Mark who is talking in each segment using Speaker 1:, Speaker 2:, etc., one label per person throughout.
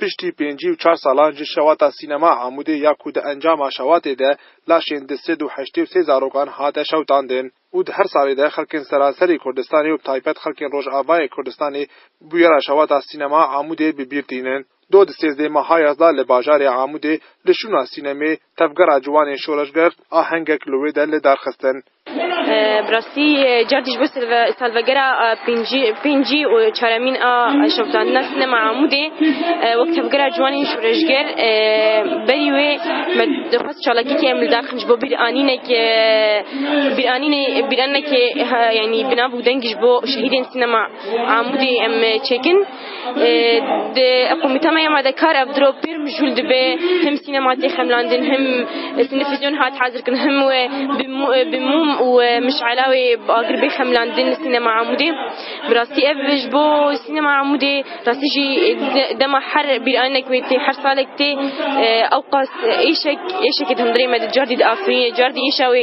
Speaker 1: Piştî pêncî û çar salan ji Şewata Sînema Amûdê ya ku di encama şewatê de laşên di sed û heştê û sê zarokan hate şewtandin û di her salê de xelkên seranserê Kurdistanê û bi taybet xelkên Rojavayê Kurdistanê bûyera Şewata Sînema Amûdê bi bîr tînin. Do di sêzdeh mehaya da li bajarê Amûdê li şûna sînemê Tevgera Ciwanên Şoreşger ahengek li wê de li dar xistin. Bi rastî cardî ji bo salvegera pêncî û çaremîn a şoptandina sînema Amûdê wek Tevgera Ciwanên Şoreşger berî wê me dixwest çalakiyekê em li dar xin ji bo bîranînek bîranînekê yanî bi nav û dengî ji bo şehîdên sînema Amûdê em çêkin. Di eqûmîtamaya me de kar ev diro pir mijûl dibe him sînema tê xemlandin him sinefîzyon hat hazirkin him wê bi mûm û mişela wê agir bê xemlandin li sînema Amûdê. Bi rastî ev ji bo sînema Amûdê rastî jî dema her bîranek wê tê her salek tê ewqas êşek êşekê di hundirê me de car dî di afirîne car dî êşa wê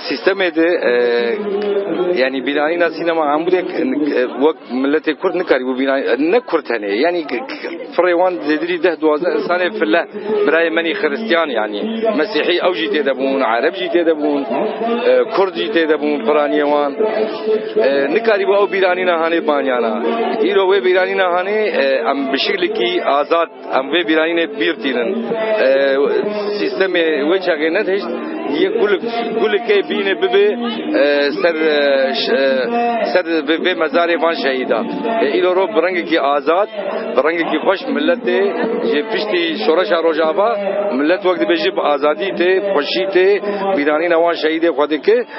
Speaker 1: Sîstemê de yanî bînanîna sînema Amûdê wek miletê Kurd nikarîbû bînanî ne Kurd tenê yanî firê wan zêdirî deh duwazdeh însanê file birayê menî xiristîyan yanî mesîhî ew jî têde bûn ereb jî têde bûn Kurd jî têde bûn piranîyê wan nikarîbû ew bîranîna hanê banîyana îro wê bîranîna hanê em bi şiklekî azad Em vê bîrayînê bîr tînin. Sîstemê wê çaxê nedihişt, yek gulik gulikê bînê bibê ser ser vê mezarê van şehîdan. Îro rov bi rengekî azad, bi rengekî xweş miletê ji piştî şoreşa Rojava milet wek dibêje bi azadî tê, xweşî tê, bîranîna wan şehîdê xwe dike.